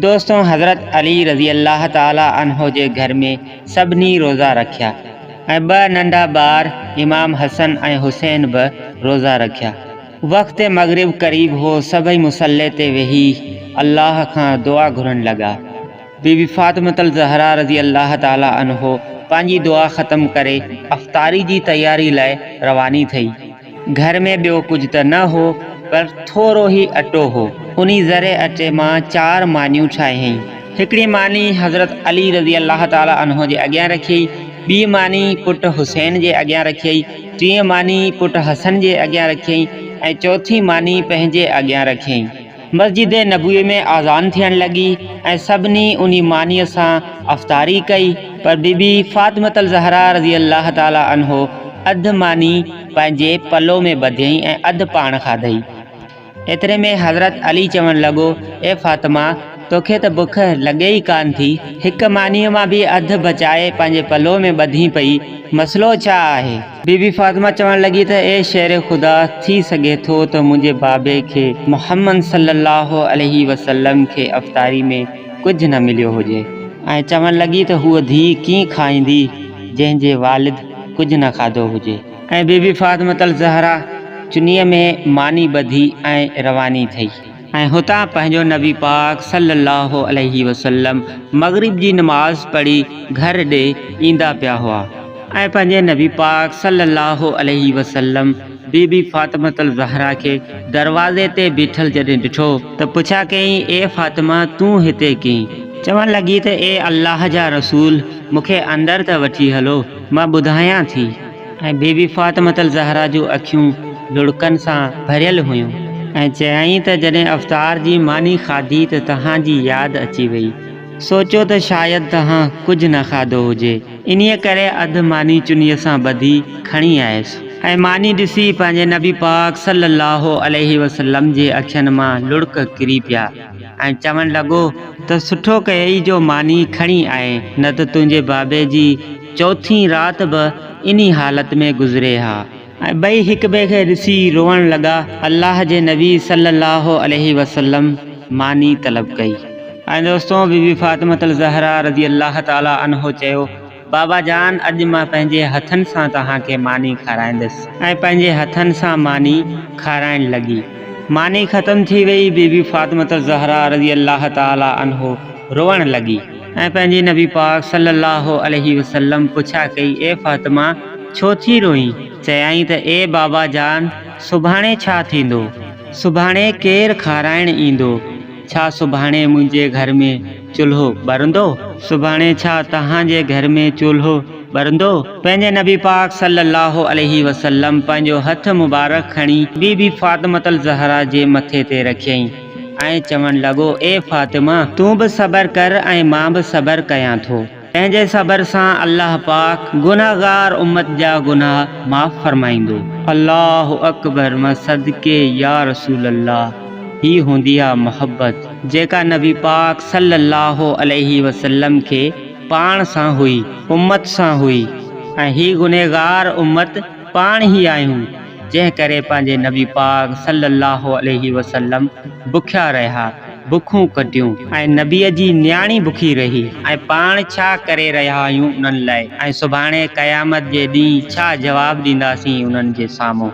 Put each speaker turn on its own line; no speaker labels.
دوستو حضرت علي رضي الله تعالٰي عنه جي گهر ۾ سڀني روزا رکيا ۽ ٻه ننڍا ٻار امام حسن ۽ حسين به روزا رکيا. وقت مغرب قريب هو سڀئي مصلي تي ويهي الله کان دعا گهرڻ لڳا. بي بي فاطمة الزهراء رضي الله تعالٰي عنه پنهنجي دعا ختم ڪري افطاري جي تياري لاء رواني ٿي. گهر ۾ ٻيو ڪجهه ته نه هو، پر ٿورو ئي اٽو هو. انهي ذري اٽي مان چار مانيون ٺاهيائين. هڪڙي ماني حضرت علي رضي الله تعاليٰ عنه جي اڳيان رکيائين، ٻي ماني پٽ حسين جي اڳيان رکيائين، ٽين ماني پٽ حسن جي اڳيان رکيائين ۽ چوٿين ماني پنهنجي اڳيان رکيائين. مسجد نبوي ۾ آذان ٿيڻ لڳي ۽ سڀني انهي مانيء سان افطاري ڪئي، پر بي بي فاطمة الزهراء رضي الله تعالٰي عنه اڌ ماني پنهنجي پلو ۾ ٻڌيئي ۽ اڌ پاڻ کاڌئي. ايتري ۾ حضرت علي چوڻ لڳو، اي فاطمه! توکي ته بک لڳي ئي ڪانه ٿي، هڪ مانيء مان به اڌ بچائي پنهنجي پلو ۾ ٻڌين پئي، مسئلو ڇا آهي؟ بي بي فاطمه چوڻ لڳي ته اي شير خدا ٿي سگهي ٿو ته منهنجي بابي کي محمد صلي الله عليه وسلم کي افطاري ۾ ڪجهه نه مليو هجي ۽ چوڻ لڳي ته هوء ڌيء ڪيئن کائيندي جنهن جي والد ڪجهه نه کاڌو هجي. ۽ بي بي فاطمة الزهرا چنيء ۾ ماني ٻڌي ۽ رواني ٿي. ۽ هتان پنهنجو نبي پاڪ صلّي اللّٰه عليه وسلّم مغرب جي نماز پڙهي گهر ڏي ايندا پيا هئا ۽ پنهنجي نبي پاڪ صلّي اللّٰه عليه وسلّم بي بي فاطمة الزهرا کي دروازي تي بيٺل جڏهن ڏٺو ته پڇا ڪيائين اي فاطمه تون هتي ڪين؟ چوڻ لڳي ته اي الله جا رسول مون کي اندر ته وٺي هلو مان ٻڌايان ٿي. ۽ بي بي فاطمة الزهرا جون اکيون لڙڪن سان ڀريل هيون ۽ چيائين ته جڏهن افطار جي ماني کاڌي ته توهان جي ياد اچي وئي، سوچيو ته شايد توهان ڪجهه نه کاڌو هجي، انهيء ڪري اڌ ماني چنيء سان ٻڌي کڻي آيس ۽ ماني ڏسي پنهنجي نبي پاڪ صلّي اللّٰه عليه وسلّم جي اکين مان لڙڪ ڪري پيا ۽ چوڻ لڳو ته سٺو ڪيئي جو ماني کڻي آئين نه ته تنهنجي بابي جي چوٿين رات به انهي حالت ۾ گذري ها ۽ ٻئي هڪٻئي کي ڏسي روئڻ لڳا. الله جي نبي صلي الله عليه وسلم ماني طلب ڪئي ۽ دوستو بي بي فاطمة الزهراء رضي الله تعالي عنها چيو، بابا جان اڄ مان پنهنجي هٿن سان توهان کي ماني کارائيندس ۽ پنهنجي هٿن سان ماني کارائڻ لڳي. ماني ختم ٿي وئي، بي بي فاطمة الزهراء رضي الله تعالي عنها روئڻ لڳي. ۽ پنهنجي نبي پاڪ صلّي اللّٰه عليه وسلّم پڇا ڪئي، اي فاطمه! ڇو ٿي روئين؟ چيائين ته اي بابا جان! سڀاڻي ڇا ٿيندو؟ سڀاڻي ڪير کارائڻ ايندو؟ ڇا سڀاڻي منهنجي گهر ۾ چولهو ٻرندو؟ سڀاڻي ڇا توهان جي گهر ۾ چولهو ٻرندو؟ پنهنجي نبي پاڪ صلّي اللّٰه عليه وسلّم پنهنجو هٿ مبارڪ کڻي بي بي فاطمة الزهرا جي مٿي تي رکيائين. ۽ چوڻ لڳو، اي فاطمه! تون به صبر ڪر ۽ مان به صبر ڪيان ٿو. تنهنجي صبر سان الله پاڪ گنهگار امت جا گناهه معاف فرمائيندو. الله اڪبر مان صدقي يا رسول الله هي هوندي آ محبت جيڪا نبي پاڪ صلّي الله عليه وسلّم کي پاڻ سان هئي، امت سان هئي ۽ هي گنهگار امت، پاڻ ئي آهيون، جنهن ڪري پنهنجي نبي پاڪ صلّي اللّٰه عليه وسلّم بکيا رهيا، بکون ڪٽيون. ۽ نبيء جي نياڻي بکي رهي ۽ پاڻ ڇا ڪري رهيا آهيون انهن لاء ۽ سڀاڻي قيامت جي ڏينهن ڇا جواب ڏينداسين انهن جي سامهون.